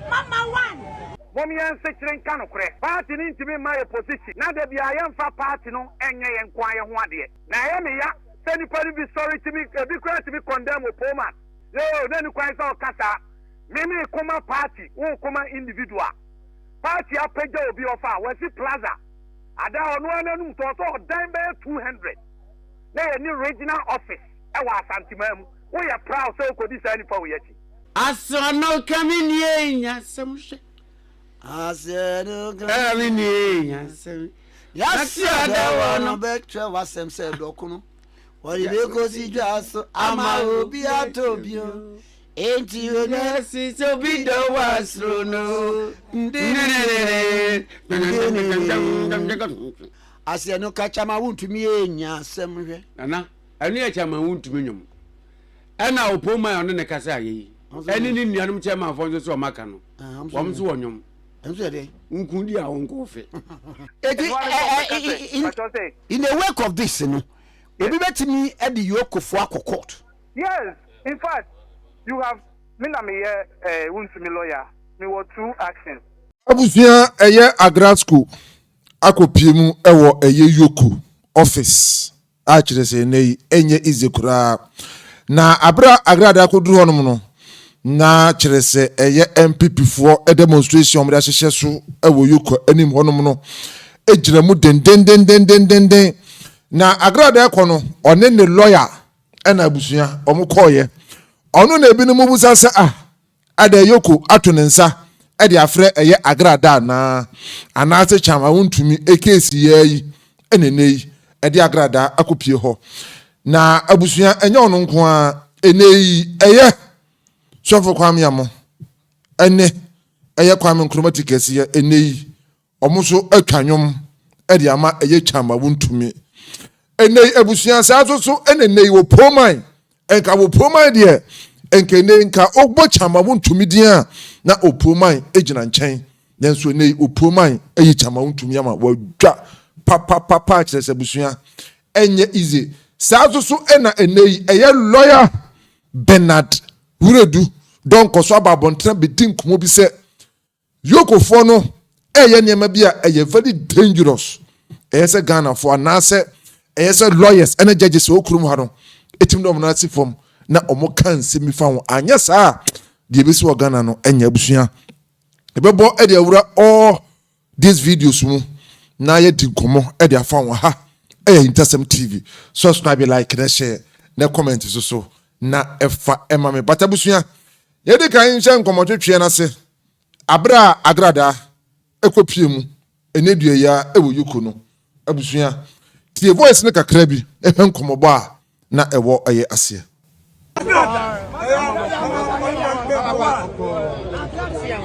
Mama one. Mom yɛn nsekyere nka nokorɛ. Party no ntumi mma yɛ position na da biara yɛmfa party no nyɛ yɛn nko ara yɛn ho adeɛ. Na ɛyɛ me ya sɛ nnipa no bi sɔre tumi, ebi koraa tumi condemn Opoman. Yoo, na ni kwan sɛ ɔka saa. Me me koma party, wo koma individual. Party apagya obi ɔfa, wasi plaza. Ada ɔno ara n'anum tɔ sɛ ɔdan bɛyɛ 200. Na yɛ ni regional office ɛwɔ Asanteman mu. Wo yɛ proud sɛ okodi saa nipa wei akyi. Asɛa no ka me nie nya sɛm hwɛ. Asɛa no ka me nie nya sɛm. Yɛahyia da wɔ no bɛkyerɛ w'asɛm sɛ dɔko no wɔde bɛkɔsi dwa so ama obi atɔ bio enti onasi sɛ obi dɔ wɔ asoro no aseɛ no ka kyama wontumi ɛnya asɛm hwɛ nana ɛno yɛ kyama wontumi nwom ɛna ɔpoma ɔno ne kasa ayɛ yi ɛne ne nuanom kyɛmanfoɔ nso sɛ ɔmaka no wɔm nso wɔ nwom ɛnso yɛ dɛ nkun di a wɔnkɔ ɔfe. Eti ɛ in a wake of this no obi bɛtumi ɛde yokofoɔ akɔ court. Yes in fact you have me na me yɛ ɛɛ wuntumi lawyer me wɔ two actions. Abusua ɛyɛ Agrasko akɔ pie mu ɛwɔ ɛyɛ yoko office. a kyerɛ sɛ nnɛ yi ɛnyɛ easy koraa. Na abere a Agrada akɔduru hɔnom no, na kyerɛ sɛ ɛyɛ NPP foɔ demonstration a wɔde ahyehyɛ so wɔ Yoko anim hɔnom no gyina mu dendendendendenden. Na Agrada ɛkɔ no, ɔne ne lawyer ɛna abusua wɔkɔɔeɛ. Ɔno na ebinom bisa sɛ ah, Adɛn, Yoko ato ne nsa de afrɛ ɛyɛ Agra da anaa? Anaase kyam a wontumi keesi yi ara yi na ɛnnɛ yi ɛde Agra da akɔpue hɔ? Na abusua, ɛnyɛ ɔno nko ara, ɛnnɛ yi ɛyɛ Sɔfo Kwame Amoh ne ɛyɛ Kwame Nkrumah ti kɛseɛ ɛnnɛ yi. Wɔn nso twa nnwom de ama ɛyɛ twa ma wontumi. Ɛnnɛ yi abusua saa nso so ɛna ɛnnɛ yi wɔ Poman. Nka wɔ Poman deɛ nka ɛnnɛ yi nka wobɔ twa ma wontumi din a na wɔ Poman gyina nkyɛn. Nanso ɛnnɛ yi wɔ Poman ayi twa ma wontumi ama wɔadwa papapapa kyerɛ sɛ abusua ɛnyɛ easy. Saa nso so ɛna ɛnnɛ yi ɛyɛ lɔya Bernard Wuredu dɔnkɔ so aba abɔntene abɛdi nkɔmmɔ bi sɛ Yokofoɔ no ɛyɛ nneɛma bi a ɛyɛ very dangerous. Ɛyɛ sɛ Ghanafoɔ anaasɛ ɛyɛ sɛ lawyers ɛne judges ɛwɔ kurom ha no ɛtumi dɔm no ase fam na wɔn ka nsɛm bi fa ho. Anyɛ saa a deɛ ɛbɛsi wɔ Ghana no ɛnyɛ abusua. Ɛbɛbɔ ɛde awura all these videos mu na yɛdi nkɔmmɔ ɛde afa ho ha. Ɛyɛ Ahintasɛm TV. Subscribe, like na share na comment so so na ɛfa ɛma me. But abusua Yɛadi kan nhyɛ nkɔmmɔtwetweɛ no ase berɛ a Agradaa kɔpue mu ɛnnɛ dua yi ara wɔ Yuko no. Abusua, tie voice no kakra bi hwɛ nkɔmmɔbɔ a na ɛwɔ yɛ aseɛ.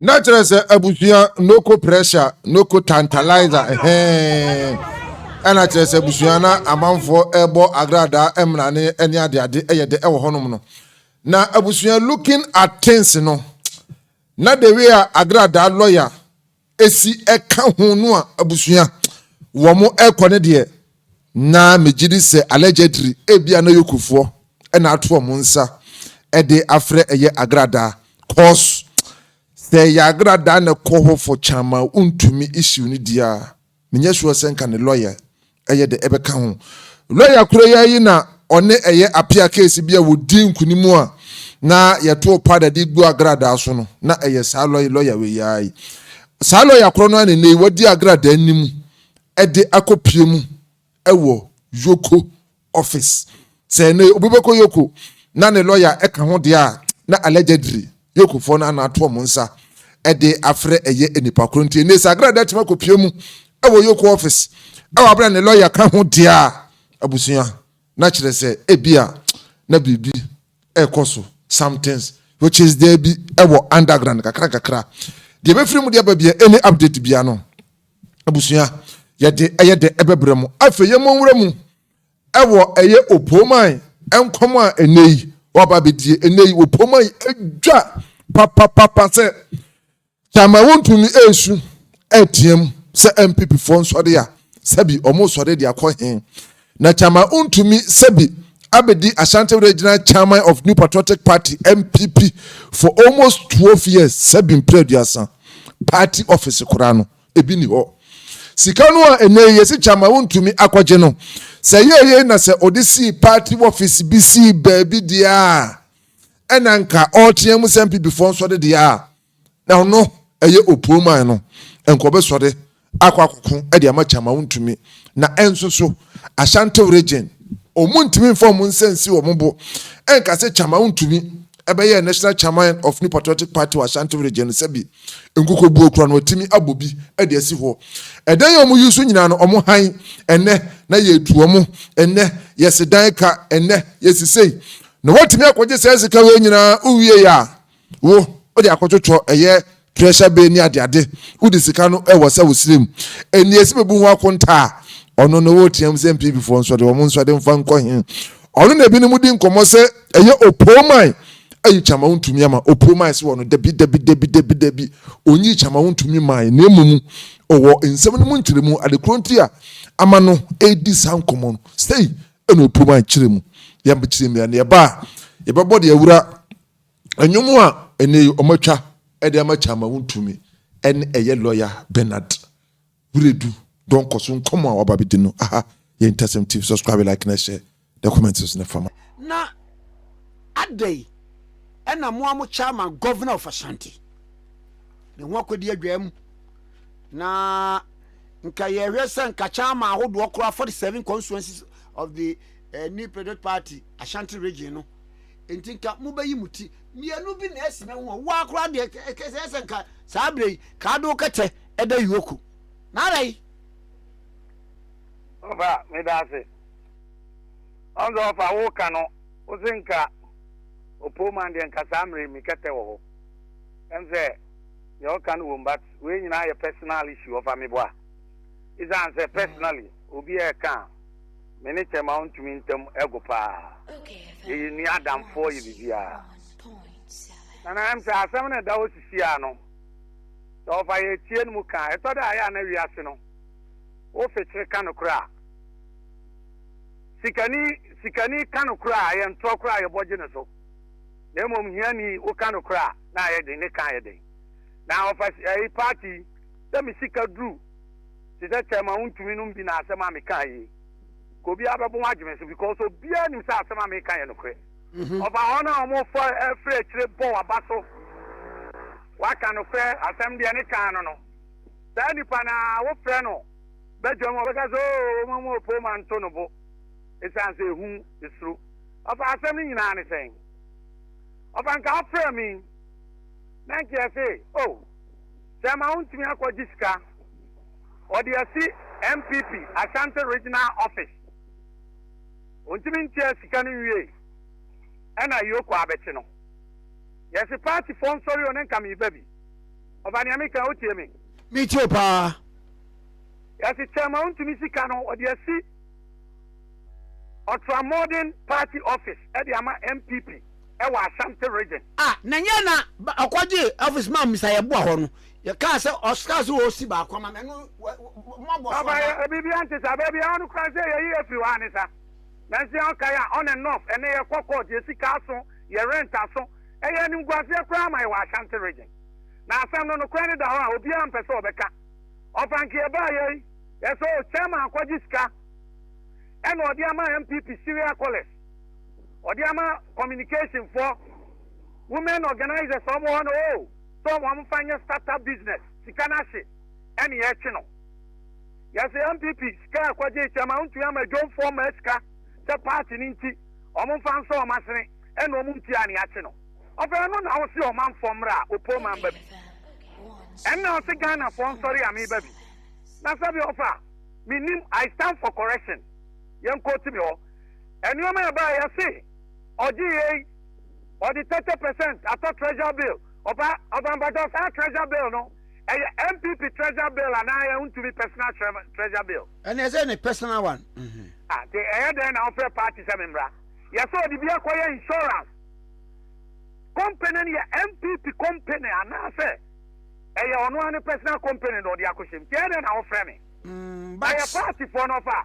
na kyerɛ sɛ abusua noko pressure noko tantalizer hɛn ɛna kyerɛ sɛ abusua na amanfoɔ ɛbɔ agradaa ɛmrane ɛne adeade ɛyɛ dɛ ɛwɔ hɔnom no na abusua looking at things no na the way a agradaa lɔya esi ɛka ho no a abusua wɔn ɛkɔ ne deɛ na megye di sɛ allegedly ebia na yokufoɔ na ato wɔn nsa ɛde afrɛ ɛyɛ agradaa cause sɛ ɛyɛ agradaa na ɛkɔ hɔ for kyan ma wontumi issue no deɛ a Menyɛ sure sɛ nka ne lɔya ɛyɛ dɛ ɛbɛka ho. Lɔya koro yi ara yi na ɔne ɛyɛ apea case bi a wɔdii nkunim a na yɛtoo powder de gu agradaa so no, na ɛyɛ saa lɔya lɔya wei ara yi. Saa lɔya koro no ara na ɛnnɛ yi wadi agradaa no mu de akɔpue mu wɔ Yoko office. Sɛ nnɛ obi bɛkɔ Yoko na ne lɔya ka ho deɛ a, na allegedly Yokofoɔ no ana ato wɔn nsa de afrɛ ɛyɛ nnipa korɔ. Nti nnɛ sɛ Agrada atumi akɔpue mu wɔ Yoko office wɔ aberɛ a ne lɔya ka ho deɛ a, abusua, na kyerɛ sɛ ebia na biribi rekɔ so, somethings which is there bi wɔ underground kakra nkakra. Deɛ ɛbɛfiri mu de aba biara, any update biara no, abusua yɛde ɛyɛ dɛ ɛbɛbrɛ mu afei yɛn mɔnwura mu ɛwɔ ɛyɛ opoman nkɔm a ɛnɛ yi wɔaba abɛdie ɛnɛ yi opoman yi adwa papapapa sɛ kyama wontumi ɛresu ɛreteam sɛ mpp foɔ nsɔre a sɛbi wɔn sɔre de akɔ hen Na Kyama Untumi Sabi abɛdi Ashanti Regional Chairman of New Patriotic Party, NPP, for almost twelve years, Sabi mprɛ aduasa. Party office koraa no, ebi nni hɔ. Sika no a ɛnnɛ yi yɛse Kyama Untumi akɔgye no, sɛ ɛyɛɛ yei na sɛ ɔde sii party office bi sii baabi deɛ a, ɛna anka ɔreteam sɛ NPPfoɔ nsɔre deɛ a, Na ɔno, ɛyɛ opuo man no, nka ɔbɛsɔre akɔ akɔko de ama kyɛ ama wontumi. Na nso so, Ashanti region, wɔntumi mfa wɔn nsa nsi wɔn bo nka sɛ kyɛ ama wontumi bɛyɛɛ national chairman of New Patriotic Party wɔ Ashanti region no, sɛbi nkokobuo koraa no wɔatumi abɔ bi de asi hɔ. Ɛdan a wɔyi so nyinaa no, wɔn hann ɛnnɛ, na yɛretu wɔn ɛnnɛ, yɛsi dan ka ɛnnɛ, yɛsi sei, na woatumi akɔgye saa sika wei nyinaa, wowiei a, Wo, wode akɔtwotwɔ ɛyɛ treasure bay ne adeade, wode sika no wɔ sɛ wo srɛ mu. Nea esi bebu ho akonta a, ɔno no woreteam sɛ NPP foɔ nsɔde wɔn nsɔde mfa nkɔ he? Ɔno na ebinom di nkɔmmɔ sɛ ɛyɛ Opooman ayi Kyama wontumi ama Opooman se wɔ no dabi dabi dabi dabi dabi onyii Kyama wontumi mae na mmom ɔwɔ nsɛm no mu nkyerɛmu ade korɔ nti a ama no redi saa nkɔmmɔ no sei na Opooman kyerɛ mu yɛmkyerɛ mu a na yɛba a yɛbɛbɔ deɛ awura Nnwom a ɛnnɛ yi wɔatwa de ama Kyama Wontumi ne ɛyɛ Lɔya Bernard Wiredu Donkor so nkɔmmɔ a waba abɛdi no. Aha yɛ Ntasɛm TV, subscribe, like na share na comment nso na fa ma. Na adɛn na mo a mo chairman governor of Ashanti ne ho akɔdi adwaa mu? Na nka yɛhwɛ sɛ nka chairman ahodoɔ koraa 47 constituencies of the uh, New Patriot Party Ashanti region no Enti nka mobɛyi mo ti mmienu bi na asi me ho hɔ. Woaa koraa deɛ, ɛyɛ sɛ nka saa berɛ yi ka ado kɛtɛ ɛda Yoko. Nara yi. Ɔfa, meda ase. Ɔn sɛ ɔfa wo ka no, wo se nka ɔpoo man deɛ nka saa mmerɛ yi me kɛtɛ wɔ hɔ. Ɛm sɛ deɛ wo ka no wom but wei nyinaa yɛ personal issue ɔfa meboa. Esiane sɛ personally obi ɛɛka a. Me ne Thelma ntumi ntam agu paa. Yɛyɛ nua adamfoɔ, yɛ biribiara. Nana M, Sɛ asɛm no da hɔ sisi a no, sɛ wɔfa yɛn atie no mu ka a, ɛtɔ da a ɛyɛ a na wiase no wofikyere ka nokorɛ a. Sikani, sikani ka nokorɛ a, ɛyɛ ntorɔ koraa a yɛbɔ gye no so. Na mmom hiani, woka nokorɛ a, na ayɛ den, ne ka ayɛ den. Na wɔfa ayi, party, sɛ me sika duru. te sɛ kyɛm a wontumi nom bi na asɛm a mekae yi nka obiara bɛbɔ ho agye me so because obiara nim sɛ asɛm a meka yɛ nokorɛ mhm. ɔfa hɔ no a wɔfa afiri akyire bɔ waba so waka nokorɛ asɛm deɛ ne kaa no no saa nipa no a wofrɛ no bɛdwam ɔbɛka sɛ oo ma mu ɔpoo ma nto no bo ɛsiane sɛ ɛhu ɛsuro ɔfa asɛm no nyinaa ne sɛn ɔfa nka afrɛ me na nkeɛ se o oh, Sɛ ɛma wontumi akɔgye sika, wɔde asi NPP Ashanti Regional Office. Wontumi ntua sika no nwiei, ɛna Ayioku abɛkye no. Yɛse partyfoɔ nsɔre o ne nka meba bi. Ɔba nea meka yi wotie me? Metie wo paa. Yɛse kyɛ ma wontumi sika no wɔde asi Ultramodern Party Office de ama NPP. wɔ Ashanti Region. A, na nyɛ na ɔkɔgye office ma Mr. Yeboah hɔ no, yɛkaa sɛ ɔkaa sɛ ɔresi baako ama me, ɛno mmɔbɔ so anaa? Papa, biribiara nte saa, baabi a ɔno koraa sɛ yɛyi afiri hɔ a ne saa. Nanso yɛn ɔkae a on and off, ɛnnɛ yɛkɔ court, yɛ sika aso, yɛ rent aso, ɛyɛ animguaseɛ koraa ma yɛn wɔ Ashanti Region. Na asɛm no nokorɛ no da hɔ a obiara mpɛ sɛ ɔbɛka. Ɔfanke yɛbaeɛ yi, yɛsɛ o, Chairman akɔgye sika ɛna ɔde ama NPP Syria College. ɔde ama communication foɔ women organisers ɔmo hɔ no oo sɛ ɔmo ɔmo fa nyɛ start up business sika no ahye ɛne yɛtwe no yɛsɛ MPP sika ɛkɔ gye kyɛ ma ntumi ama dwom foɔ ma sika sɛ party no nti ɔmo fa nso ɔmo asene ɛna ɔmo nti a ne yɛakye no ɔfɛ ɛno na ɔmo se ɔmanfoɔ mmra a ɔpɔ ɔman ba bi ɛna ɔse Ghana foɔ nsɔre a meba bi na sɛbi ɔfa menim I stand for correction yɛnkɔ ti me hɔ Nnoɔma a ɛbaeɛ yɛse ɔgye yei ɔde 30 percent atɔ treasure bill ɔba ɔba mpakyɛw saa treasure bill no ɛyɛ NPP treasure bill anaa yɛ ntumi personal treasure bill. Ɛna ɛsɛ ne personal one. Mhm. Ah, te ɛyɛ dɛn na ɔfrɛ party sɛ membra? Yɛsɛ ɔde bi akɔyɛ insurance. Company no yɛ MPP company anaasɛ ɛyɛ ɔno ara ne personal company na ɔde akɔhyɛm. Te ɛyɛ dɛn na ɔfrɛ me? Mm, but... Ɛyɛ party foɔ no ɔfa.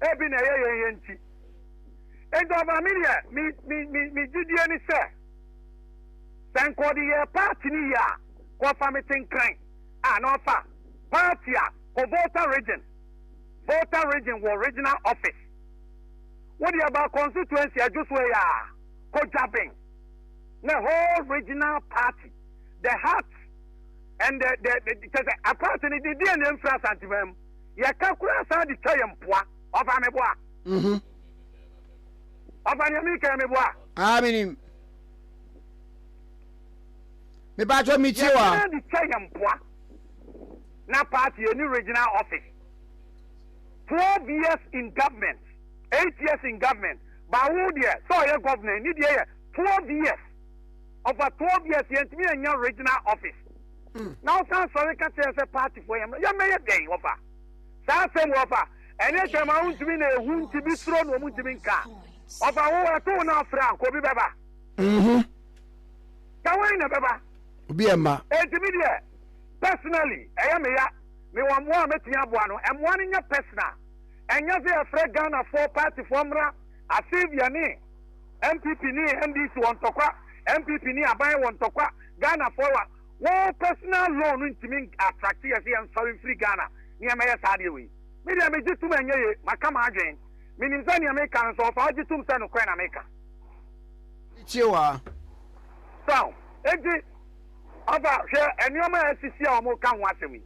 ebi na ɛyɛ yɛn yɛ nti. Enti ɔbaa me deɛ, me me me me gyidie ne sɛ, sɛ nka ɔde yɛ paati no yie a, kɔfa me tenkran a na ɔfa paati a kɔ Volta region, Volta region wɔ regional office. Wo deɛ ba constituency adwo so yɛ a, kɔ Dwaben, na whole regional party, the heart and the the the kyɛ sɛ a party ne de deɛ na ɛmfiri Asanteman mu. yɛka koraa saa de twa yɛ mpoa ɔfa meboa mhm. ɔfa nea mekɛn meboa aa menim mebaatɔ metie wa yɛka de twa yɛ mpoa na party ɛni regional office 12 years in government 8 years in government bawo deɛ sɛ ɔyɛ governor ni deɛ yɛ 12 years ɔfa 12 years yɛntumi ɛnya regional office na ɔsan sɔre ka kyerɛ sɛ paatifoɔ yɛmmra yɛmmɛyɛ dɛn wɔfa saa asɛm wɔfa ɛne twɛm a wontumi na ehu nti bi soro na wɔn ntumi nka wɔfa wo ɛto wo na afra nka obi bɛba mhm. ka wɔn na bɛba obi ɛma ɛntumi deɛ personally ɛyɛ me ya me wɔn mmoa a mɛtumi aboa no mmoa no nyɛ personal ɛnyɛ sɛ yɛfrɛ ghanafoɔ paatifoɔ mmra asevia ne npp ne ndc wɔn tɔkwa npp ne aban wɔn tɔkwa Ghana foɔ wa wo personal loan no ntumi attracte yɛ sɛ yɛn sɔre mfiri Ghana ne yɛn mɛyɛ saa adeɛ wei me deɛ me gye tum ɛnyɛ ye maka m'adwen me nim sɛ neɛ me ka no nso ɔfaa gye tum sɛ nokorɛ na me ka. Tie waa. Saw enti ɔfa hwɛ ɛnoɔma a asisi a wɔn ka ho asɛm yi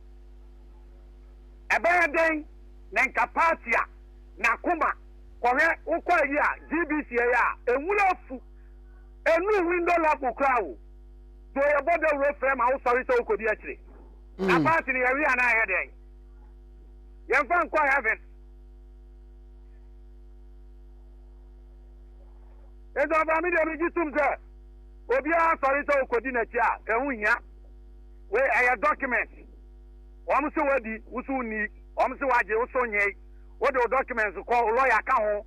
ɛbɛyɛ dɛn na nka party a nakoma kɔhwɛ wokɔ ayi a GBC ɛyɛ a ɛnwura afu. Enu ho ndɔ lafo kura wo. Do yɛ bɔ dawuro frɛ ma wo sɔre sɛ wo kodi akyire. Na paati no yɛ we anaa yɛ dɛn? Yɛ nfa nkɔ heaven. Nti ɔfa me deɛ me gye tum sɛ obiara sɔre sɛ okodi n'akyi a ɛho hia. We ɛyɛ document. Wɔn se wadi, wo so nni. Wɔn se wagye, wo so nyee. Wode wo documents kɔ, wo lawyer ka ho.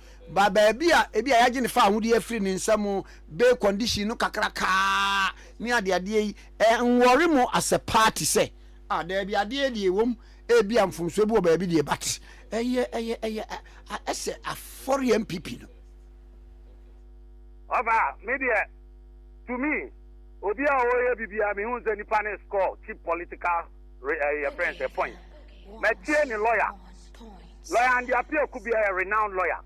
Ba baabi a ebia yɛagye ne fawohodie afiri ne nsa mu be condition no kakraka ne adeadeɛ yi nwɔre mo asɛ paa te sɛ ah daabi adeɛ deɛ ɛwom ebia mfomsoɔ bi wɔ baabi deɛ but ɛyɛ ɛyɛ ɛyɛ ɛsɛ afɔre MPP no. Ɔfa me deɛ to me obi a ɔyɛ biribiara mehu sɛ nipa no is called cheap political. Re eh, yɛfrɛ no sɛ points. Matie ne lawyer. Lawyer Andy Appiah Kubi yɛ renowned lawyer.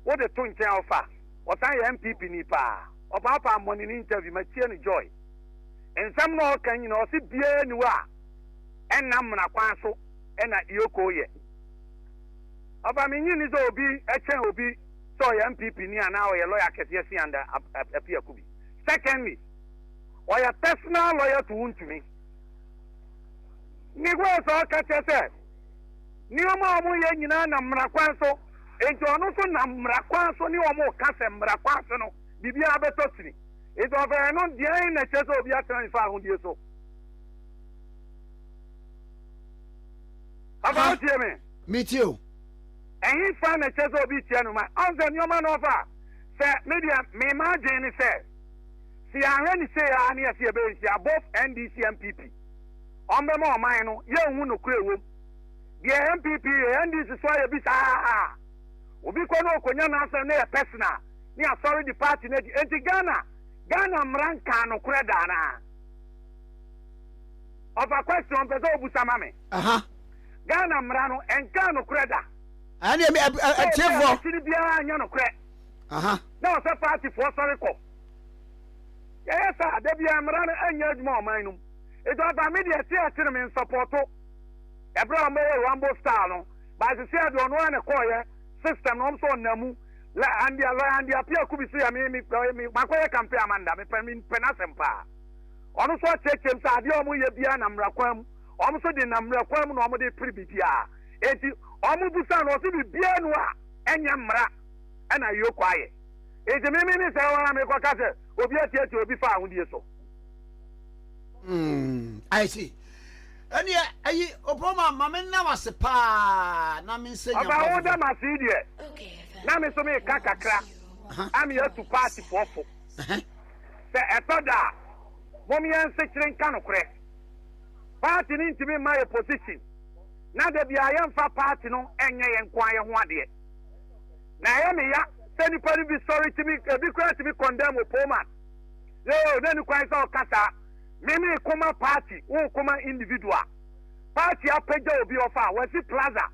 Wode to nkyɛn a ɔfa. Ɔsan yɛ NPP ni paa. Ɔpaapaa mmɔne ne interview, matie no joy. Nsɛm no a ɔka nyinaa ɔse biara ni hɔ a ɛnna mmara kwan so ɛna Ioko yɛ. Ɔfa menye ni sɛ obi ɛkyɛn obi sɛ ɔyɛ NPP ni anaa ɔyɛ lawyer kɛseɛ si Andy Appiah Kubi. Secondly, ɔyɛ personal lawyer to Wontumi. Ne ho yɛ sɛ ɔka kyerɛ sɛ nneɛma a wɔyɛ nyinaa nam mmara kwan so, enti ɔno nso nam mmara kwan so ne wɔn reka sɛ mmara kwan so no biribiara bɛtɔ sini. Enti ɔfɛ ɛno deɛn na ɛkyerɛ sɛ obi atena nifa ahodie so? Afa wotie me? Metie o. Ɛhe fa na ɛkyerɛ sɛ obi tia no ma ɔnsɛ nneɛma na ɔfa sɛ media mema adwene ne sɛ Sɛ yɛanhwɛ no sei ara ne yɛse yɛbɛyɛ nhyia both NDC NPP wɔn bɛma ɔman no yɛnhu nokorɛ ɛwom. Deɛ NPP yɛ NDC so ayɛ bi saa. Obi kɔ na ɔkɔnya n'asɛm na yɛ personal ne yɛasɔre de party no adi. Enti Ghana Ghana mmara nkaa nokorɛ da anaa? Ɔfa question mpɛ sɛ ɔbusa ma me. Aha. Ghana mmara no ɛnkaa nokorɛ da. Ɛne ɛtiefo. Sɛ obi a akyi no biara anyɛ nokorɛ. Aha. na ɔsɛ paatifoɔ sɔre kɔ. Yɛyɛ saa a, da biara mmara no ɛnyɛ adwuma ɔman no mu. Nti ɔfa me deɛ ɛte a kyene me nsɔpɔto. Ɛberɛ a wɔbɛyɛ Rambo style no, Baase Seah deɛ ɔno ara na ɛkɔɔeɛ, system no wɔn nso ɔnam mu. Lɛ Andia, Lɔya Andia Pia Kubi nso yɛ me, me, me, makɔyɛ campaign ama no da, mepɛ, mepɛ n'asɛm paa. Ɔno nso ɔkyerɛkyerɛm sɛ adeɛ a wɔyɛ biara nam mmara kwan mu, wɔn nso de nam mmara kwan mu na wɔde pere biribiara. Enti wɔbusa no, ɔse biribiara nu a ɛnyɛ mmara. ɛna ayio kwaeɛ. Nti me me ne sɛ wɔn a mekɔ ka sɛ obi atiatia obi fa ahodie so. Mm, I see. Ɛneɛ ayi opoma ma me na wase paa na me nsɛ nyampa fufu. Ɔba wo da ma se deɛ na me so me ka kakra ame atu paati foɔ fo. Sɛ ɛtɔ da a mom yɛn nsekyere nka nokorɛ. Paati no ntumi mma yɛ position na da biara yɛmfa paati no nyɛ yɛn nko ara yɛn ho adeɛ. na ɛyɛ me ya sɛ nnipa no bi sɔre tumi ebi koraa tumi condemn wɔ Pullman yoo na ne kwan sɛ ɔka saa me me koma party wo koma individual party apagya obi ɔfa wasi plaza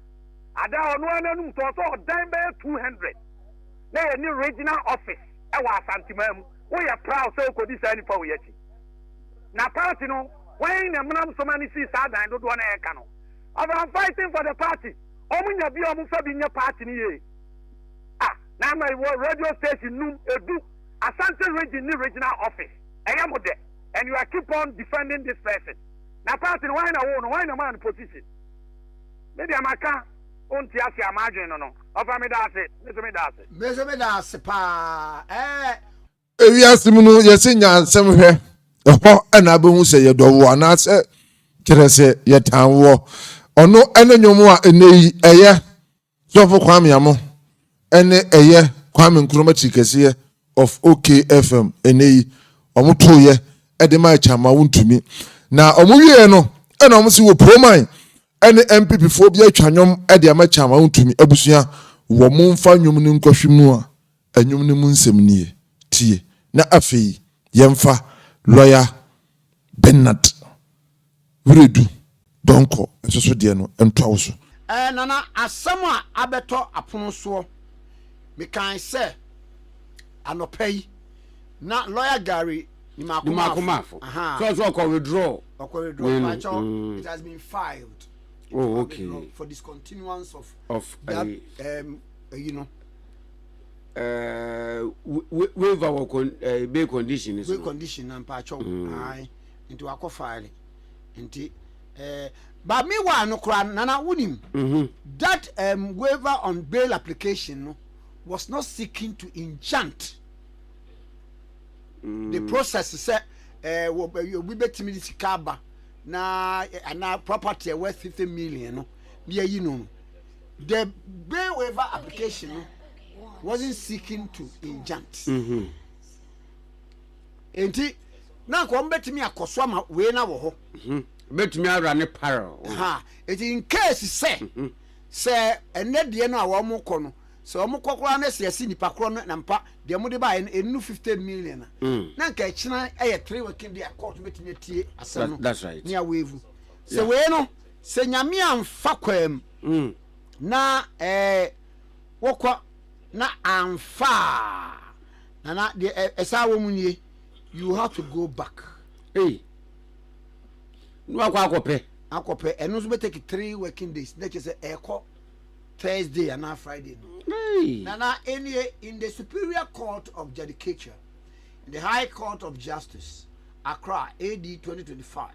ada ɔno ananum tɔ sɛ ɔdan bɛyɛ two hundred na yɛ ne regional office ɛwɔ asantemaa mu woyɛ proud sɛ okodi saa nipa oyɛ ti na party no wɔn na mmenam soma ne sii saa dan dodoɔ na ɛka no of am fighting for the party. Ɔmo nya bi a ɔmo fa bi nyɛ party no yie a, na ama yɛwɔ radio station num, edu, Asante region ne regional office. Ɛyɛ mo dɛ and you are keep on defending this person. Na party no hwan na woo no, hwan na maa no position? Me deɛ maka, wonte ase a m'adwene no no, ɔfa meda ase, me nso meda ase. Me nso meda ase paa, eh. ewiase mu no yɛsɛ nyansɛm hwɛ ɛhɔ ɛna abɛhu sɛ yɛdɔ woɔ anaasɛ kyerɛ sɛ yɛtan woɔ ɔno ɛne nnwom a ɛnɛ yi ɛyɛ sɔfo kwame amo ɛne ɛyɛ kwame nkrumah tiri kɛseɛ of okfm ɛnɛ yi ɔmo toyɛ ɛde ma ɛkyɛ ama wontumi na ɔmo wieɛ no ɛna ɔmo si wɔ proman ɛne mpp foɔ bi atwa nnwom ɛde ama kyɛ ama wontumi abusua wɔ mo mfa nnwom no nkɔhwe mu a Nnwom no mu nsɛm nie, tie. Na afei yɛmfa Lɔya Bernard Wiredu Donkor nso so deɛ no ntoa wo so. Ɛɛ Nana, asɛm a abɛtɔ apono soɔ. Mekae sɛ anɔpa yi na Lɔya Gary Nimako-Marfo, ahaa. ɛɛ waiver wɔ con ɛɛ eh, bay condition ni so. bay condition na mpatsɔ mm. ayi nti wakɔ faale nti ɛɛ eh, ba mi wa no kora nana wunim. Mhm. that um, waiver on bail application no was not seeking to enchant mm. the process sɛ ɛɛ eh, obi betumi de sika aba na ana property ɛwɔ fifty million no yɛ yi no. The bail waiver application no wasn't seeking to injunct. Mm-hmm. Enti na nka wɔn bɛtumi akɔ so ama wei na wɔ hɔ. Mm-hmm. Bɛtumi awura ne parrel. Eti in case sɛ mm-hmm. sɛ ɛnɛ deɛ no a wɔn kɔ no sɛ wɔn kɔ koraa na sɛ yɛsi nipa korɔ no na mpa deɛ wɔn de ba yɛ no enu fifty million na mm. na nka ɛkyina ɛyɛ three working day a court bɛtumi atie asɛm no nea wɔavu sɛ wei no. Sɛ Nyame anfa kwaam na ɛɛ wɔkɔ na anfa a Nana deɛ ɛ ɛsaa wɔ mu nie you have to go back. Ei na wakɔ akɔpɛ. Akɔpɛ ɛno nso bɛ take three working days na kyerɛ sɛ ɛɛkɔ Thursday anaa Friday no. Ei. Nana ɛnie in the Superior Court of Judicature in the High Court of Justice Accra AD twenty twenty five.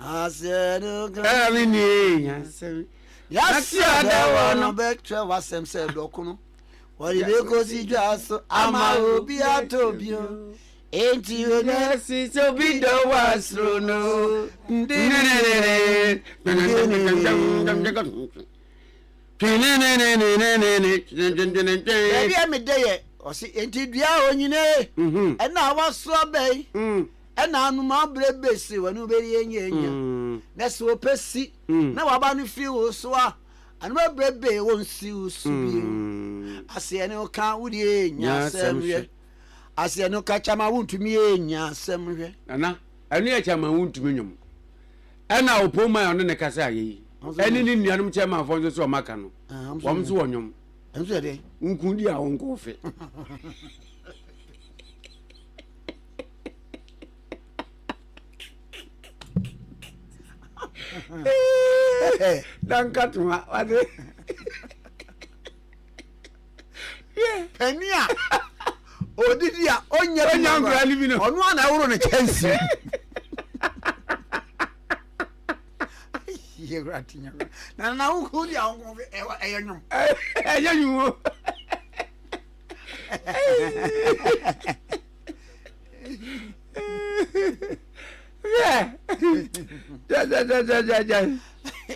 Ɛne nie. Yɛasi ada wɔ no. Bɛtwerɛ w'asɛm sɛ dɔkono. Wɔde bɛkɔsi dwa so ama obi atɔ bio. Enti onasi sɛ obi dɔ wɔ asoro no. Baabi a medɛ yɛ ɔse enti dua a onyine ɛna awasoɔ bɛn. Ɛnaanom aberɛ bese wɔne wo bɛdi anyaanya, na se wɔpɛ si na wɔaba no firi wo so a, anom aberɛ bee wɔnsi wo so bio. Aseɛ ne wo ka wo deɛ nya asɛm hwɛ. Aseɛ ne wo ka kyɛ ma wontumi nya asɛm hwɛ. Nana, ɛno yɛ kyɛ ma wontumi nwom. Ɛna Opoo Maya ɔne ne kasa ayɛ yi, ɛne ne nuanom kyɛmanfoɔ nso so wɔn aka no, wɔn nso wɔ nwom. Nso yɛ dɛ. Nkundi a wɔnkɔ ofe. dankatoma wade pani a odidi a ɔnya nkura no bi no ɔno a na ɛworo no kyɛnse yɛwura te nyɛ na na wokɔ di a wokɔ ɛyɛ nwom ɛyɛ nwom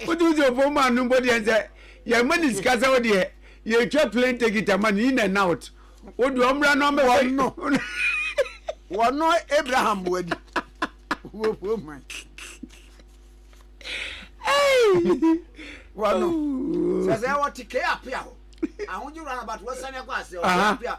wotu sɛ ɔfo ma no mbɔ deɛ sɛ yɛma ne sika sɛ wo deɛ yɛtwa plane ticket ama no in and out wo deɛ ɔmmra no ɔmɛwɔ wɔno abraham boadi wɔfo ma wɔno sɛ sɛ wɔte kɛ apea hɔ ahogyerɛ no abato wɔsane akɔ ase ɔpea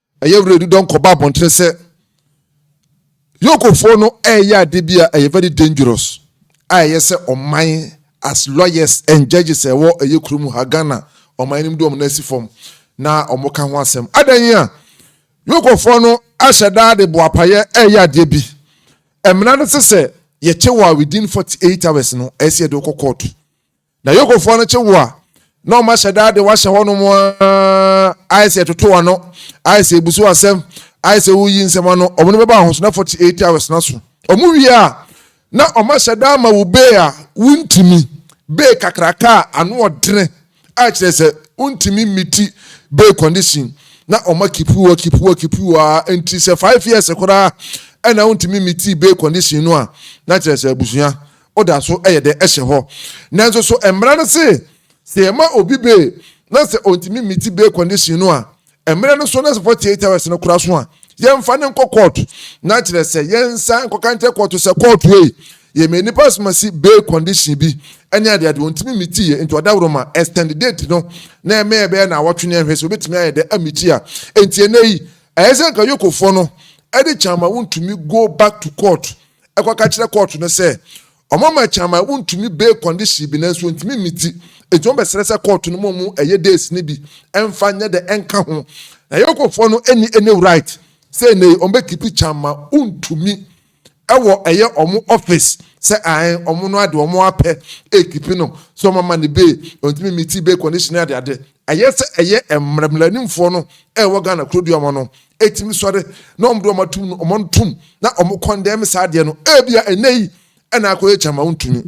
Ɛyɛ werɛ di dɛ ɔnkɔba abɔnten sɛ Yokofoɔ no ɛɛyɛ ade bi a ɛyɛ very dangerous a ɛyɛ sɛ ɔman as lawyers and judges a ɛwɔ ɛyɛ kuro mu ha Ghana ɔman no mu de wɔn nan asi fam na wɔn ka ho asɛm. Adan yi a Yokofoɔ no ahyɛ daa de boapayɛ ɛɛyɛ adeɛ bi, ɛmena no se sɛ yɛkyɛ wɔ a within 48 hours no ɛyɛ sɛ yɛde wo kɔ kɔɔto. Na Yokofoɔ no kye wo a, na wɔn ahyɛ daa de wahyɛ hɔnom ara, ayɛ sɛ ɛtoto ano, ayɛ sɛ ebusu asɛm, ayɛ sɛ woyi nsɛm ano. Wɔn no bɛba ahosona 48 hours na so. Wɔn wie a, na wɔn ahyɛ daa ma wo bee a wontumi, bee kakraka a ano ɔdene, a kyerɛ sɛ wontumi mmiti bee condition, na wɔn akipi wo, akipi wo, akipi wo ara, nti sɛ five years koraa ɛna wontumi mmitii bee condition no a, na kyerɛ sɛ abusua Ɔda so yɛ dɛ hyɛ hɔ. Nanso so mmara no se sɛ yɛma obi bail na sɛ ontumi mmiti bail condition no a, mmara no so na sɛ 48 hours no kora so a, yɛmfa no nkɔ kɔɔto? Na kyerɛ sɛ yɛnsan nkɔka nkyerɛ kɔɔto sɛ kɔɔto ei, yɛmaa nipa asomasi bail condition bi ne adeade, ontumi mmitiiɛ nti ɔdaworoma extend date no na ɛma yɛbɛyɛ nnawɔtwe na yɛnhwɛ sɛ obetumi ayɛ dɛ ammiti a. Enti ɛnnɛ yi, ɛyɛ sɛ anka Yokofoɔ no de kyɛ ama wontumi go back to kɔɔto. kɔka kyerɛ kɔɔto no sɛ wɔama akyaman wontumi bail condition bi nanso wɔntumi mmiti enti wɔbɛsrɛ sɛ kɔɔto no ma wɔn ɛyɛ days no bi ɛmfa nyɛ dɛ ɛnka ho na yɛkɔfoɔ no ɛni ɛni right sɛ ɛnɛ yi wɔbɛkipi kyaman wontumi ɛwɔ ɛyɛ wɔn office sɛ ae wɔn no ade wɔn apɛ ɛkipi no sɛ wɔama ne bail wɔntumi mmiti bail condition adeade Ɛyɛ sɛ ɛyɛ mmara mmaranimfoɔ no a ɛwɔ Ghana kurodua ma no ɛtumi sɔre na wɔn de wɔn atom no wɔn ntom na wɔn kɔndɛm saa adeɛ no ɛbia ɛnɛ yi ɛna akɔ yɛ kyama wontumi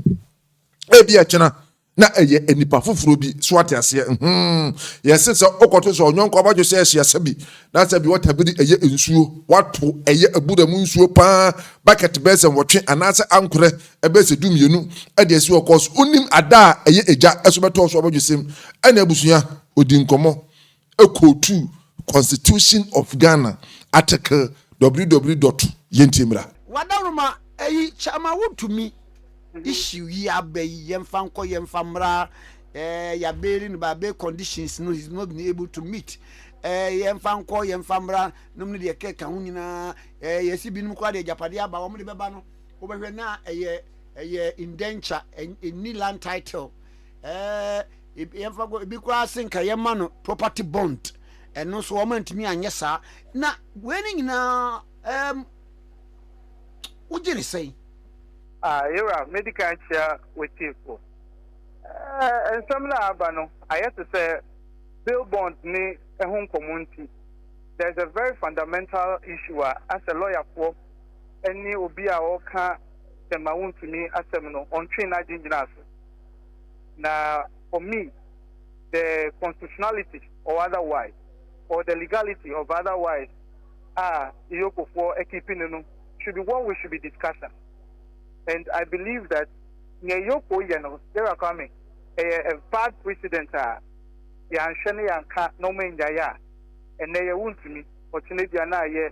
ɛbia kyena na ɛyɛ nipa foforɔ bi so ate aseɛ hmm yɛse sɛ ɔkɔto sɛ ɔnyɔnko abadwo sɛ ɛhyɛ sɛ bi na sɛ bi wɔta biri ɛyɛ nsuo wato ɛyɛ abura mu nsuo paa bucket bɛsɛ wɔtwe anaasɛ ankorɛ Ɛbɛyɛ sɛ dummienu de asi hɔ kɔɔ so. Wonim ada a ɛyɛ agya so bɛtɔɔ so abɔdwesɛm ne abusua. Ɔdii nkɔmmɔ, quotuu Constitution of Ghana article www dot Yɛntie Mmara. W'adaworoma yi kyɛ ma wo tumi issue yi aba yi, yɛmfa nkɔ, yɛmfa mmra, eh, ya bail no ba bail conditions no he's not been able to meet, eh, yɛmfa nkɔ, yɛmfa mmra, nom no deɛ ɛkeka ho nyinaa, eh, yɛsi binom koraa deɛ agyapadeɛ aba wɔn de bɛba no. Wobɛhwɛ na ɛyɛ ɛyɛ indenture, ɛnni land title. Ɛɛ yɛmfa kɔ ebi koraa se nka yɛma no property bond, ɛno nso wɔn antumi anyɛ saa. Na wei ne nyinaa ɛɛm wogye ne sɛn? Ah, Yera, medi kan kyia w'atiefo. Ɛɛ nsɛm no a aba no, ayɛ te sɛ bail bond ne ɛho nkɔmmɔ nti, there is a very fundamental issue a as a lɔyafoɔ, ne obi a ɔreka sɛ ma wontumi asɛm no, ɔntwee n'adwene gyinaa so. Na for me, the constitutionality or otherwise, or the legality of otherwise a Iyokofoɔ akipi no no should be what we should be discussing. And I believe that nea Iyokoo yɛ no, Yaya Kwame, ɛyɛ a bad precedent a yɛanhwɛ na yɛanka na wɔannyae a, ɛnnɛ yɛ wontumi, ɔkyena bia na ayɛ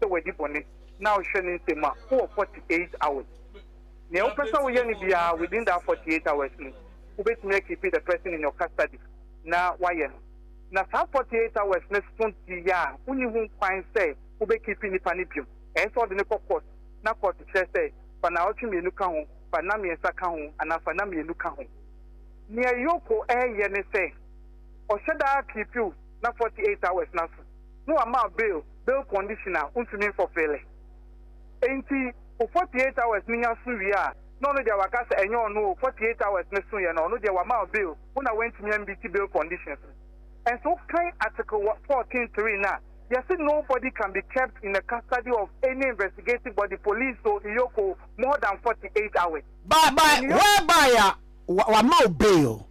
sɛ wadi bɔne na wohwɛ ne nsam a, wowɔ 48 hours. Nea wopɛ sɛ woyɛ no biara within that 48 hours no, wobɛtumi a keep the person in your custody na woayɛ no. Na saa 48 hours no so deɛ a, wonni ho kwan sɛ wobɛ keep nnipa no bio. Ɛyɛ sɛ wode no kɔ court na court kyerɛ sɛ fa nnawɔtwe mmienu ka ho, fa nna mmiɛnsa ka ho anaa fa nna mmienu ka ho. Nea Yoko reyɛ ne sɛ ɔhyɛ da keep wo na 48 hours no aso. na wɔamaa bail, bail conditional, wontumi mfɔfele. Enti wo 48 hours no nya so wie a, na ɔno deɛ waka sɛ ɛnyɛ ɔno o, 48 hours no soeɛ no, ɔno deɛ wɔama wo bail, wo na woantumi ammeeti bail conditions no. Nso wokan Article 14 3 no a, yɛse nobody can be kept in the custody of any investigative body, police o, Iyoc o, more than 48 hours. By, by, whereby a wɔama wo bail,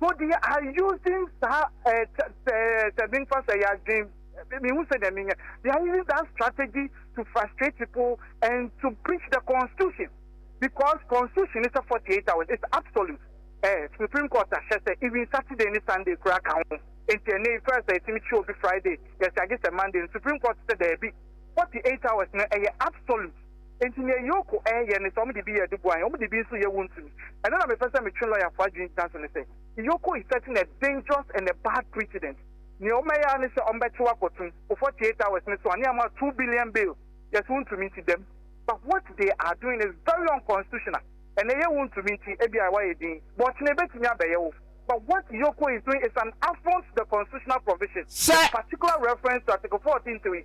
So they are using saa eh, sɛ, sɛ, sɛ menfa sɛ yɛadwen, mehu sɛ deɛ menyɛ, they are using that strategy to frustrate people and to breach the constitution because constitution is a 48 hours, it's absolute. Eh, Supreme Court ahyɛ sɛ even Saturday ne Sunday koraa ka ho. Nti ɛnɛ yi first ɛtumi kyi obi Friday, yɛsɛ agye sɛ Monday. Supreme Court sɛ daabi, 48 hours no ɛyɛ absolute. Enti nea Yoko en yɛ ne sɛ wɔde bi yɛ aduboa en, wɔde bi nso yɛ wontumi. Ɛno na mepɛ sɛ metwe lɔyafo adwene gyina so ne sɛ, Yoko is setting a dangerous and a bad precedent. Nea wɔbɛyɛ ara ne sɛ wɔbɛkye wo akɔtum, wo Four Tier Towers no so a, ne ama wo two billion bail, yɛse wontumi nti dɛm. But what they are doing is very unconstitutional. Ɛnnɛ yɛ wontumi nti, ebia woayɛ din, but ɔkyena ebetumi abɛyɛ wo. But what Yoko is doing is an affront to the constitutional provision, with particular reference to Article 14 3.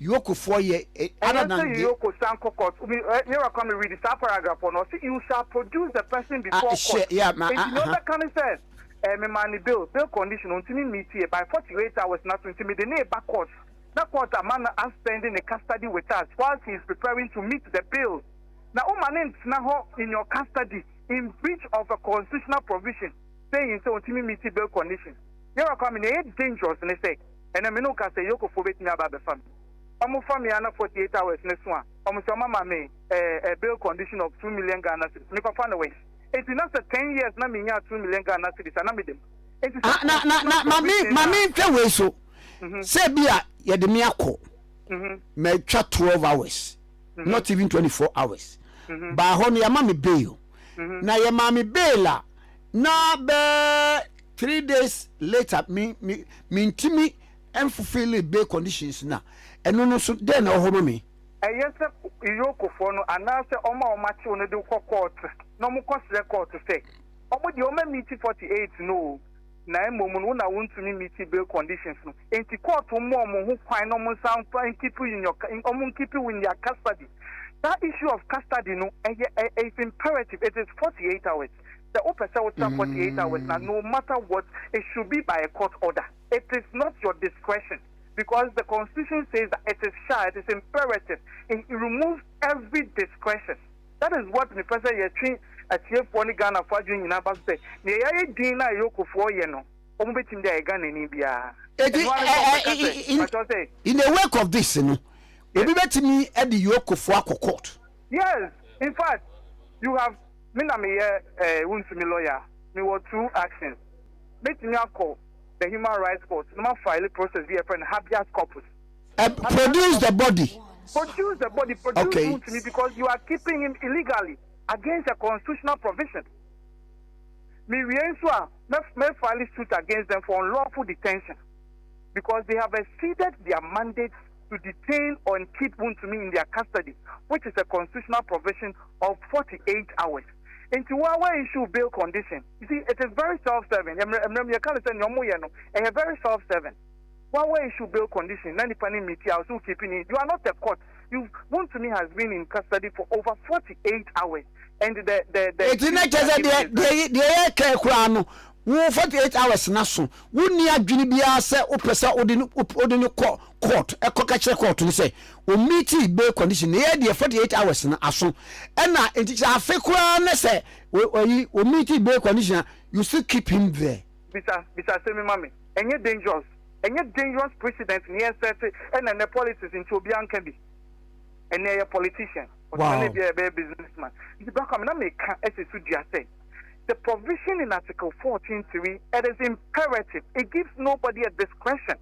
Yoko foɔ yɛ Ɛnyɛ sɛ adanandeɛ. Yoko san kɔ court o me ɛ yɛwura Kwame read saa paragraph hɔ no ɔse you shall produce the person Ah before hyɛ court yeah ma nti ah nea aha. ɔbɛka ne sɛ ɛɛ me maa no bail bail condition ontumi mmeetiɛ by forty eight hours na so nti mede no reba court na court ama no aspend ne custody with us while she is preparing to meet the bail na wo ma no ntena hɔ in your custody in breach of a constitutional provision saying sɛ ontumi mmeeti bail condition yɛwura Kwame nea ɛyɛ dangerous ne sɛ. Ɛnɛ me ne wo ka sɛ Yoko foɔ bɛtumi aba abɛfa me. Ɔmo fa me a na 48 hours no so a, ɔmo sɛ ɔmo ama me eh eh bail condition of two million Ghana cedis. Me papa ne wɛn? Enti na sɛ ten years na me nyaa two million Ghana cedis a na me dem. Enti sɛ Ah, na, na, na, ma me, ma me nhwɛ wei so. Sɛ bi a yɛde me akɔ, matwa twelve hours, not even twenty four hours, baa hɔ no yɛama me bail. Na yɛmaa me bail a, na bɛɛ. Three days later me me mentumi nfulfilli bail conditions no a, ɛno no nso dɛn na ɛwɔ hɔ ma me? Ɛyɛ sɛ Iyokofoɔ no anaasɛ wɔn a wɔakye wo no de wo kɔ court na wɔkɔsrɛ court sɛ wɔn deɛ wɔn amiti forty eight no o, na mmom no wo na wontumi mmiti bail conditions no nti court mma wɔn ho kwan na wɔnsan mfa nkeep you in your wɔn nkeep wo in their custody. Saa issue of custody no ɛyɛ ɛ is imperative, it is forty eight hours. Sɛ wopɛ sɛ wotra forty eight hours na no matter what it should be by a court order it is not your discretion because the constitution says that it is sha it is imperative it removes every discretion that is what me pɛ sɛ yɛtwe atiefoɔ ne Ghanafoɔ adwene nyinaa ba so sɛ nea yɛayɛ din na Ayokofoɔ yɛ no wɔn bɛtumi de ayɛ Ghanani biara Eti ɛno ara ne sɛ wɔn bɛka sɛ in, pakyɛw sɛ in the wake of this no obi bɛtumi de Yokofoɔ akɔ court. Yes infact you have me na meyɛ eh wontumi lawyer mewɔ two actions mɛtumi akɔ the human rights court na ma file process bi yɛfrɛ no habeas corpus eh produce the body produce the body produce okay. wontumi because you are keeping him illegally against a constitutional provision mewie nso a mɛ file suit against them for unlawful detention because they have exceeded their mandate to detain or and keep wontumi in their custody which is a constitutional provision of forty eight hours nti wo a wa issue bail condition you see it is very self serving yɛ mmerɛ mmerɛ mu yɛka no sɛ nea wɔyɛ no ɛyɛ very self serving wo a wa issue bail condition na nipa ne mmeti a ɔso keep ni you are not a court you wontumi has been in custody for over forty eight hours and the the the. Eti na kyerɛ sɛ deɛ deɛ deɛ yɛ kɛɛ koraa no wo forty eight hours no aso, wonni adwene biara sɛ wopɛ sɛ wode no wode no kɔ court ɛkɔka kyerɛ court no sɛ ommiti bail condition na ɛyɛ deɛ forty eight hours no aso ɛna nti kyerɛ afe koraa na sɛ ɔyi ommiti bail condition a you still keep him there. Bisa bisa asɛm yi ma me. Ɛnyɛ dangerous? Ɛnyɛ dangerous precedent na yɛn set ɛna ɛnɛ politics nti obiara nka bi. Ɛnɛ yɛyɛ politician, ɔsan na ebia yɛbɛyɛ businessman. Nti Bra Kwame na meka ɛsɛ so dua sɛ. The provision in Article fourteen three, it is imperative, it gives nobody a discretion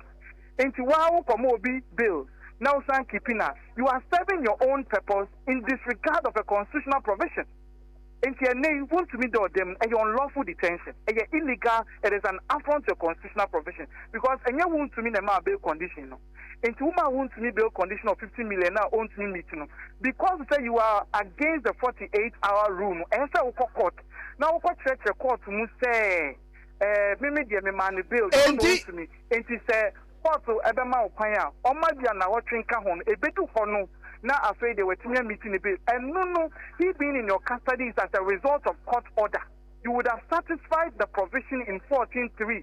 nti woa wo kɔma obi bill na wo san keepi no a, you are serving your own purpose in disregard of a constitutional provision. Nti ɛnnɛ yi wontumi da ɔda mu, ɛyɛ unlawful detention, ɛyɛ illegal, it is an affront to a constitutional provision because ɛnyɛ wontumi na ɛmaa bail condition no. nti wo maa wontumi build condition of fifty million na ontumi meet no because sɛ you are against the forty eight hour rule no ɛyɛ sɛ wokɔ court na wokɔ kyerɛkyerɛ court mu sɛ eh, me me deɛ me maa no bail ɛna Enti ontumi nti sɛ court ɛbɛma wo kwan a ɔma bi anawɔtwe nka ho no ɛbɛdu hɔ no na afei deɛ watumi amiti ne bail ɛno no he being in your custody is as a result of court order you would have satisfied the provision in fourteen three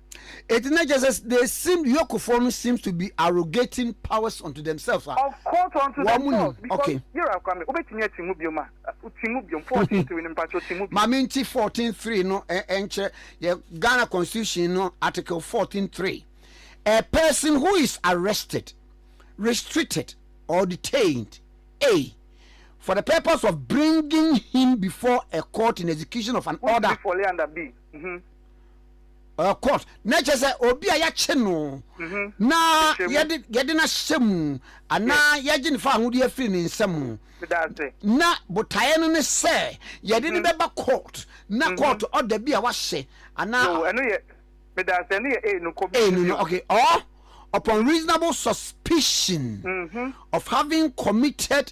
Enti na kyerɛ sɛ they seem yokefoɔ no seems to be arrogating powers unto themselves a Of course unto wɔn nim themselves because okay. Yera akora me wobɛtumi ati mu biom a ti mu biom fourteen three no mpakyɛw ti mu biom. Ma me nti fourteen three no nkyerɛ yɛ Ghana constitution no article fourteen three A person who is arrested, restricted or detained a for the purpose of bringing him before a court in execution of an Who is order. lawfully under b. Mhm. ɔyɛ court na ɛkyɛ sɛ obi a yɛakye no mhm. na yɛde no ahyɛ mu anaa yɛgye no fa ahodeɛ afiri ne nsa mu na botaeɛ no ne sɛ yɛde no mhm. bɛba court na mhm. court ɔda bi a wahyɛ anaa okay or upon reasonable suspicion of having committed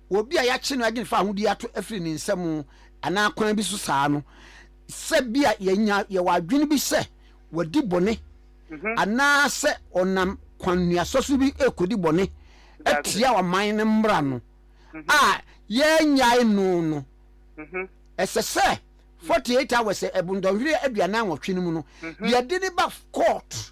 wɔ obi a yɛakye no agye no fa ahodi ato afiri ne nsam anaa kwan bi so saa no, sɛ bia yɛnya yɛwɔ adwene bi sɛ wadi bɔne anaa sɛ ɔnam kwannuasɔ so bi rekɔdi bɔne atia ɔman no mmara no a yɛannyae no no, ɛsɛ sɛ 48 hours, ɛbo nnɔnhwereɛ aduanan nwɔtwe no mu no, yɛde no ba court.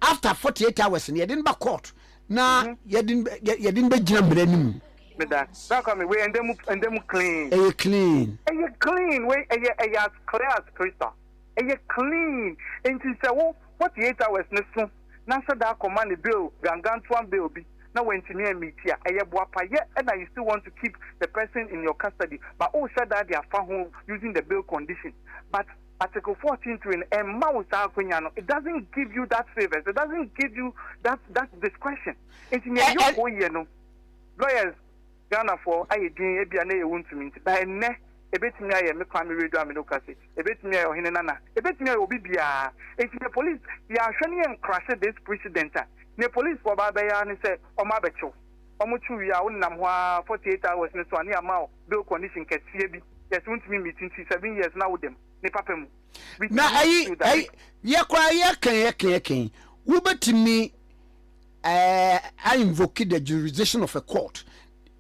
after forty eight hours no yɛde no ba court na yɛde yɛde no bɛgyina mmara no mu. meda na nka me wei ɛndɛ mu ɛndɛ mu clean. ɛyɛ clean. ɛyɛ clean wei ɛyɛ ɛyɛ as clear as crystal ɛyɛ clean nti sɛ wo forty eight hours no so na sɛ da akɔma ne bail gangantoa bail bi na wantumi amiti a ɛyɛ boapayɛ ɛna you still want to keep the person in your custody but o hyɛ da de afa ho using the bail condition but. Article fourteen three no ɛmma wo saa akwanya no, it doesn't give you that favours, it doesn't give you that that discretion. Nti nea Ɛ-Ɛ. Yoko yɛ no, lawyers Ghanafoɔ ayɛ din ebia na ɛyɛ wontumi nti, but ɛnnɛ ebetumi ayɛ me Kwame Radio Amino Kasi, ebetumi ayɛ Ɔhene Nana, ebetumi ayɛ obi biara. Nti nea police, yɛanhwɛ na yɛncrushe this precedent a, nea policefoɔ baa bɛyɛ ara ne sɛ wɔabɛkye wo. Wɔkye wo wie a, wonenam hɔ ara forty eight hours no so a na yɛama wo do condition kɛseɛ bi yɛ sɛ wontumi meet nti seven years na woda mu ne papa mu bi na ɛyi ɛyi yɛ koraa yɛkɛn yɛkɛn yɛkɛn wobɛtumi ɛɛ I invoke the jurisdiction of a court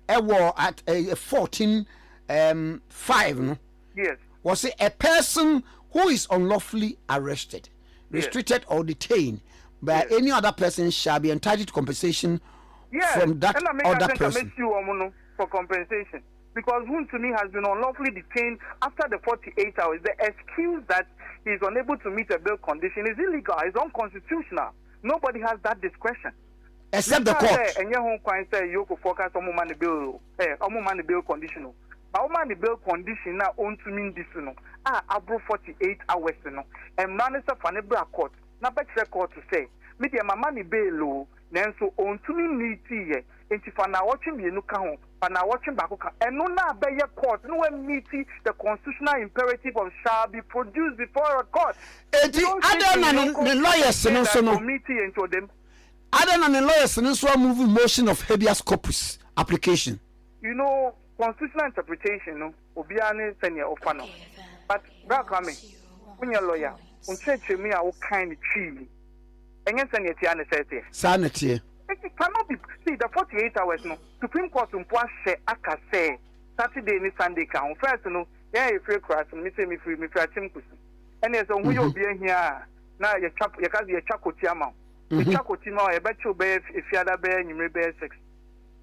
ɛwɔ at ɛɛ fourteen ɛɛm five no yes wɔsi a person who is unlawfully arrested restricted or detained by Yes. any other person shall be entitled to compensation yes from that ɛna meka other sɛ nka person mɛsi wɔn no for compensation because wontumi has been unlawfully detained after the forty eight hours the excuse that he is unable to meet a bail condition is illegal is unconstitutional nobody has that discretion except the court. Meka sɛ ɛnyɛ ho kwan sɛ Yokofoɔ ka sɛ wɔmma no bail o, ɛ, wɔmma no bail condition o. Ba wɔma no bail condition no a ɔntumi ndi so no a aboro 48 hours no, mmara no sɛ fa no bra court na bɛkyerɛ court sɛ, me deɛ mama no bail o, nanso ɔntumi mmiitiiɛ. Enti fa naawɔtwe mmienu ka ho, fa naawɔtwe baako ka ho. Ɛno na abɛyɛ court na wɔamiti the constitutional imperative of shall be produced before a court. Enti adɛn na ne ne lawyers no nso no, adɛn na ne lawyers no nso amovu motion of habeas corpus application? You know constitutional interpretation no. obiara ne sɛnea ɔfa no ho. But Bra Kwame, wonyɛ lɔya, wo nkyerɛkyerɛmu yi a wokae no twii yi, ɛnyɛ sɛnea ɛteɛ ara na ɛsɛ teɛ. Saa na ɛteɛ. It cannot be, see, the forty eight hours no, Supreme Court mpo ahyɛ aka sɛ Saturday ne Sunday ka ho. First no, yɛn a yɛfiri akuraase no, me sei mefiri, mefiri Akyem Kusu, ɛnneɛ sɛ wo ho yɛ obi ahia a, na yɛtwa, yɛka sɛ yɛtwa koti ama wo. Yɛtwa koti ma wo a, yɛbɛkye wo bɛyɛ Efiada bɛyɛ anwummere bɛyɛ six.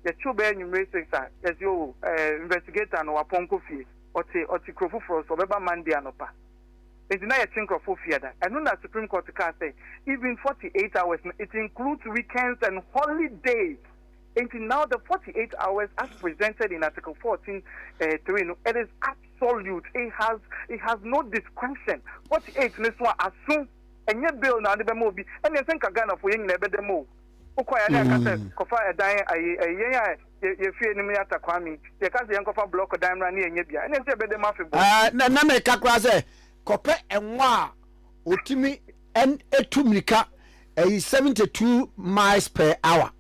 yɛkyew bɛyɛ anwummere six a, yɛse oh, eh, investigator no, wapɔn kɔ fie. Ɔte, ɔte kuro foforɔ so, ɔbɛba Monday anɔpa. Enti na yɛkye nkurɔfoɔ fi ada. Ɛno na Supreme Court kaa sɛ, even forty eight hours no, it includes weekends and holidays. Enti now the forty eight hours as presented in Article fourteen, eh, three no, it is absolute, it has, it has no discretion. Forty eight no so a, aso, ɛnyɛ bail na wode bɛma obi. Ɛnneɛ sɛ nka Ghanafoɔ yɛn nyinaa yɛbɛda mu o. Wo kɔ ya ne ɛka sɛ kɔ fa ɛdan yɛ ayie ɛyɛ yɛn a yɛ yɛ fie nim yɛ ata kwame yɛ ka sɛ yɛn kɔ fa blɔk dan mmra ne yɛ nyɛ bia ɛne nti ɛbɛ de ma afe bɔ. Ɛɛ na me ka kora sɛ kɔ pɛ ɛnwa a ɔtumi ɛn ɛtu mirika ɛyi 72 miles per hour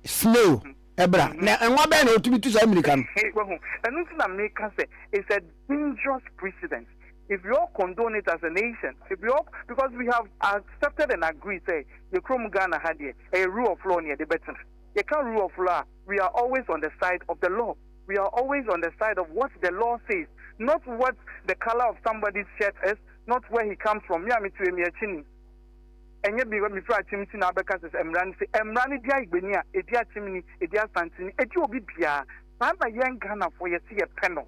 snail ɛbra na ɛnwa bɛn na ɔtumi tu saa mirika no. Wahu ɛno nti na me ka sɛ it's a. dangerous precedent if we all condone it as a nation if we all because we have accepted and agreed sɛ yɛ kurom Ghana ha deɛ ɛyɛ rule of law na yɛde bɛtena yɛka rule of law a we are always on the side of the law we are always on the side of what the law says not what the color of somebody's shirt is not where he comes from me a metu emi akyi ni ɛnyɛ bi mefiri akyem nti na abɛka sɛ mmara no sɛ mmara no di ayigbani a ɛdi akyem ni ɛdi asante ni ɛdi obi biara saa na yɛn Ghanafoɔ yɛte yɛpɛ no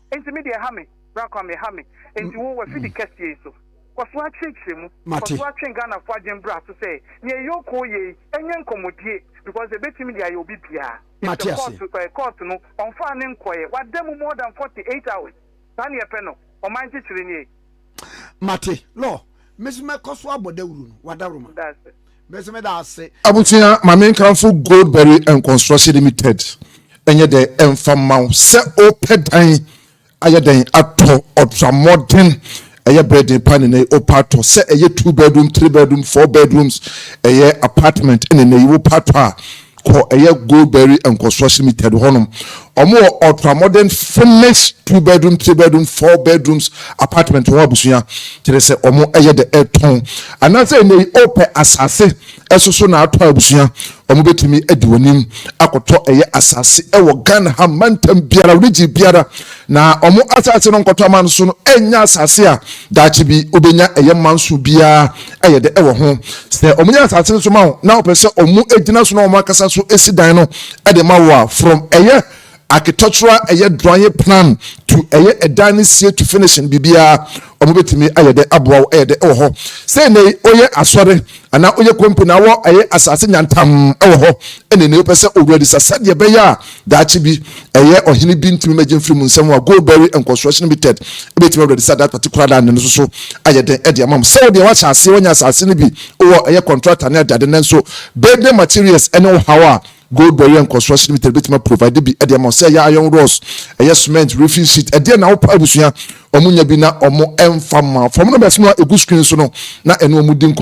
Enti me deɛ ha me, bra Kwame, ha me. Enti wo, w'afidi kɛseɛ yi so, kɔ so ara kyerɛkyerɛ mu. Kɔ so ara twe Ghanafoɔ adwene bra so sɛ, nea ɛyɛ okoo yei, ɛnyɛ nkɔmmɔdie, because ɛbɛtumi de ayɛ obi biara. Yɛsɛ kɔɔto, ɛɛ, kɔɔto no, ɔmfaa no nkɔeɛ. Wada mu more than 48 hours. Saa na yɛpɛ no. Ɔman nkyekyere nie. Mate, Lɔ, me so mɛkɔ so abɔ dawuru no, w'adaworo ma. Me so meda ase. Abusua, ma me nkamfo Goldberry and Construction Limited, ɛnyɛ dɛ ɛmfa mma wo sɛ wopɛ dan ayɛ dɛn atɔ, ɔtra mmɔden, ɛyɛ berɛ den paa nnɛnɛ yi, wopɛ atɔ, sɛ ɛyɛ two bedroom, three bedroom, four bedrooms, ɛyɛ apartment nnɛnɛ yi wopɛ atɔ a, kɔ ɛyɛ Goldberry Nkɔsoɔ Cemetery hɔnom. Ɔmo wɔ ultra modern finish two bedroom, three bedroom, four bedrooms apartment wɔ hɔ abusua. Kyerɛ sɛ ɔmo yɛ dɛ ɛtɔn. Anaasɛ ɛnɛ yi opɛ asase ɛso so na atɔ abusua, ɔmo bɛtumi adi w'anim akɔtɔ ɛyɛ asase ɛwɔ Ghana ha mantam biara, region biara. Na ɔmo asase no nkɔtɔ aman so no ɛnyɛ asase a daakye bi wobɛnya ɛyɛ manso biara ayɛ dɛ wɔ ho. Sɛ wɔnya asase no so ma wo na wɔpɛ sɛ wɔgyina so na wɔn ankasa so si dan no de ma wo a, from ɛyɛ architectural ɛyɛ drawing plan to ɛyɛ ɛdan no sie to finishing biribiara wɔbɛtumi ayɛ dɛ aboa wo ɛyɛ dɛ wɔ hɔ. Sɛ nnɛ yi woyɛ asɔre anaa woyɛ company na wɔ ɛyɛ asase nyantam wɔ hɔ ɛna nnɛ yi wopɛ sɛ wo ready sa sɛdeɛ ɛbɛyɛ a Daakye bi, ɛyɛ ɔhene bi ntumi mmɛgye mfiri mu nsɛm a Goldberry and Construction Limited bɛtumi awura de saa that particular land no so ayɛ den de ama mo. Sɛ wo deɛ woahyɛ aseɛ, woanya asase no bi wɔ ɛyɛ contractor ne adeade nanso building materials ne ɔhaw a Goldberry and Construction Limited bɛtumi aprovide bi de ama wo sɛ ɛyɛ iron rods, ɛyɛ cement, roofing sheet, ɛdeɛn na wopɛ abusua, wɔn nya bi na wɔn mfa mma wo. Fa wɔn numbers no a ɛgu screen so no na ɛne wɔn di nkɔmmɔ.